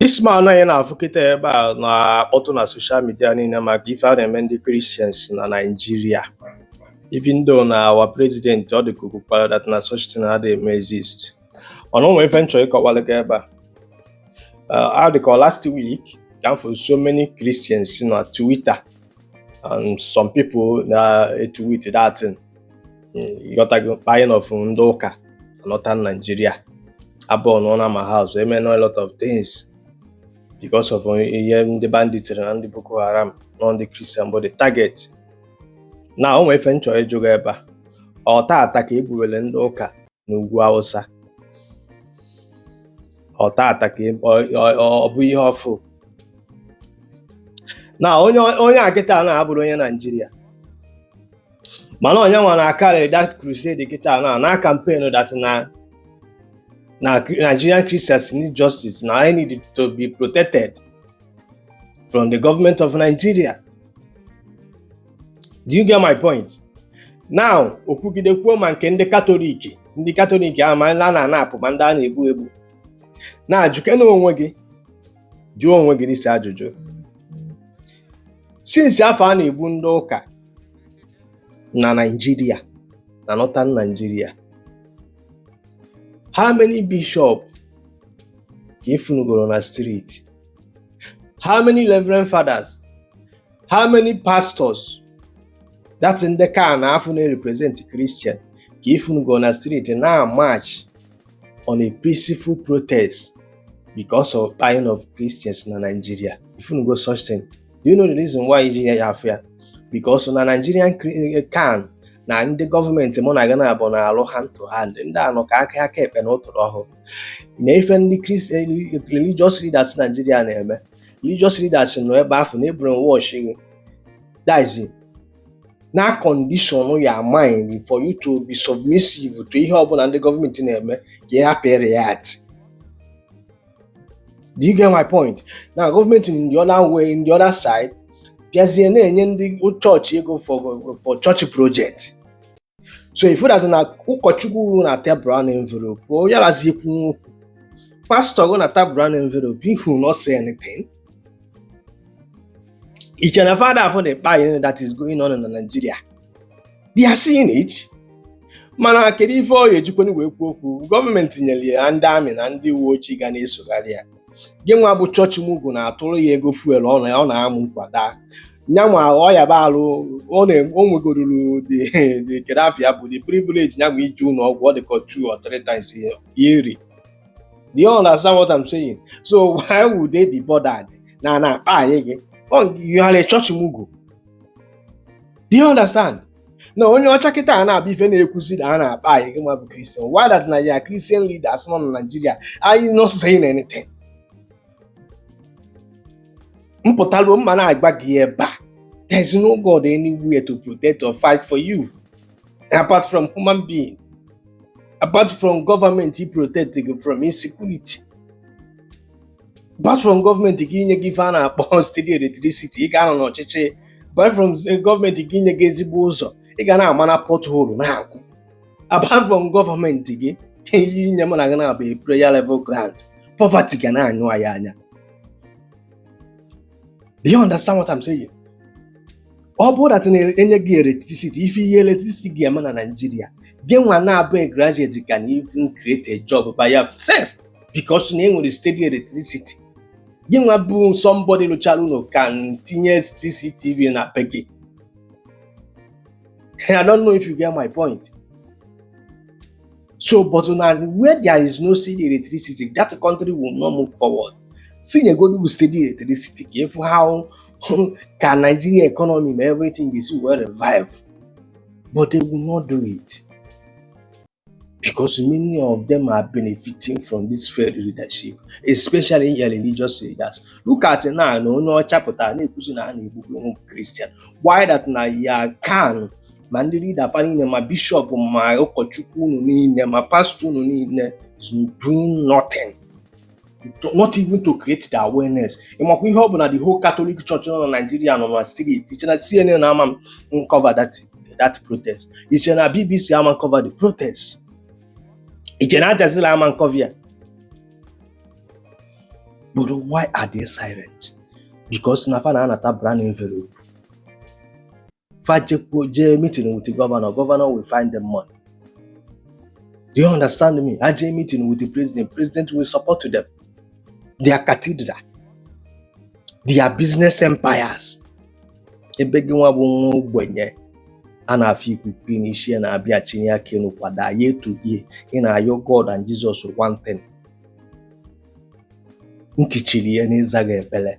This man anyị na-afụ kịta ebe a na-akpọtụ na social media niile maka ife a na-eme ndị Christians na Nigeria even though na our president ọ dị ka o kwukwara that na such thing adịghị eme exist mana o nwere ife m chọ ịkọwalụ gị ebe a Uh, a dị ka last week ka m fụ so many Christians na Twitter and some people na-etweet that thing ị ghọtago kpaing of ndị ụka na Northern Nigeria abụọ nọ na ma house eme a lot of things because of ihe ndị bandit na ndị Boko Haram na ọ ndị Christian bụ the target now o nwee ife m chọ ịjụ gị ebe a ọ taata ka e gbuwere ndị ụka na ugwu awụsa ọ taata ka e, ọ bụ ihe ọfụụ na onye a kịta na-abụrọ onye Nigeria mana ọ nyanwa na-acarry that crusade kịta na na campaign that na na Nigerian Christians need justice na ha need to be protected from the government of Nigeria do you get my point now o kwugide kwuo ma nke ndị katọlik ndị katọlik ahụ ma ndị a na-anapụ ma ndị a na-egbu egbu now jụkene onwe gị jụọ onwe gị this ajụjụ since afụ a na-egbu ndị ụka na Nigeria na northern Nigeria how many bishop ka efunugoro na street how many reverend fathers how many pastors that ndị ka na afụ na-represent Christian ka efunugoro na street na march on a peaceful protest because of dying of Christians na Nigeria ifunugo such thing do you know the reason why iji nye ya afọ ya because na Nigerian eh, CAN na ndị gọọmenti mụ na gị naabụ na-alụ hand to hand ndị a nọ ka aka aka ekpe na ụtụrụ ọhụ na ife ndị Christian eh, eh, religious leaders Nigeria na-eme religious leaders nọ ebe afụ na-ebrainwash gị that is na-acondition your mind for you to be submissive to ihe ọbụla ndị gọọmenti na-eme ka ị hapụ react do you get my point na gọọmenti in the other way in the other side bịazie na-enye ndị chọọchị ego for for church project so ị fụ that na ụkọchukwu nata brown envelope ọ yarazi ikwu okwu pastor gị nata brown envelope he will not say anything i chere na fada afụrọ the kpaing that is going on in Nigeria they are seeing it mana kedu ife ọ ga-ejikwanụ wee kwuo okwu gọọmenti nyere ya ndị army na ndị uwe ojii ga na-esogharị ya gị nwa bụ chọọchị mugu na-atụrụ ya ego fuel ọ na ọ na-amụ nkwada nyanwa ọya baa alụ ọ na- o nwegoruru the the kedu afa ya bụ the privilege nyanwa ije ụlọ ọgwụ ọ dị ka two or three times a year do you understand what I'm saying so why would they be bothered na a na-akpaị gị you are a chọọchị mugu Do you understand? na onye ọcha kịta a na-abụ ife na-ekwuzi na a na-akpa anyị gị nwa bụ kristian why that na your kristian leaders nọ na naijiria are not saying anything m pụtaruo m na-agwa gị ebe a there's no god anywhere to protect or fight for you apart from human being apart from government i-protect gị from insecurity Apart from gọọmenti gị inye gị ife a na-akpọ steady electricity, ị ga-anọ n'ọchịchị. Apart from eh, gọọmenti gị inye gị ezigbo ụzọ, ị ga na-ama na pothole na-akwụ. Apart from gọọmenti gị inye mụ na gị na-abụ player level ground, poverty ga na-anyụ anyị anya. Do you understand what I'm saying? ọ bụrụ that na e nye gị electricity ife ihe electricity ga-eme na Naịjirịa gị nwa na-abụ a graduate can even create a job by yourself because na e nwere steady electricity gị nwa bụ somebody lụchara ụlọ can tinye CCTV na be gị I don't know if you get my point so but na where there is no steady electricity that country will not move forward sị nyegodu gị steady electricity ka ị fụ how ka Nigeria economy ma everything ga-esi wee revive but they will not do it because many of them are benefiting from this failed leadership especially religious leaders look at now na onye ọcha pụtara na-ekwuzi na a na-egbukwe ụmụ Christian why that na your CAN ma ndị leader fa niile ma bishọp ma ụkọchukwu unu niile ma pastọ unu niile is doing nothing not even to create the awareness ị makwa ihe ọ bụ na the whole Catholic Church nọ na Nigeria nọ na street i che na CNN ama cover that that protest i che na BBC ama cover the protest i che na Aljazeera ama cover ya but why are they silent? because na fa na-anata brown envelope fa jee meeting with the governor governor will find them money do you understand me ha jee meeting with the president president will support them their cathedral their business empires ebe gị nwa bụ nwa ogbenye a na-afụ ikuku n'isi ya na-abịa chinie aka enu kwa day year to year ị na-ayọ God and Jesus one thing ntị chiri ya n'ịza gị ekpere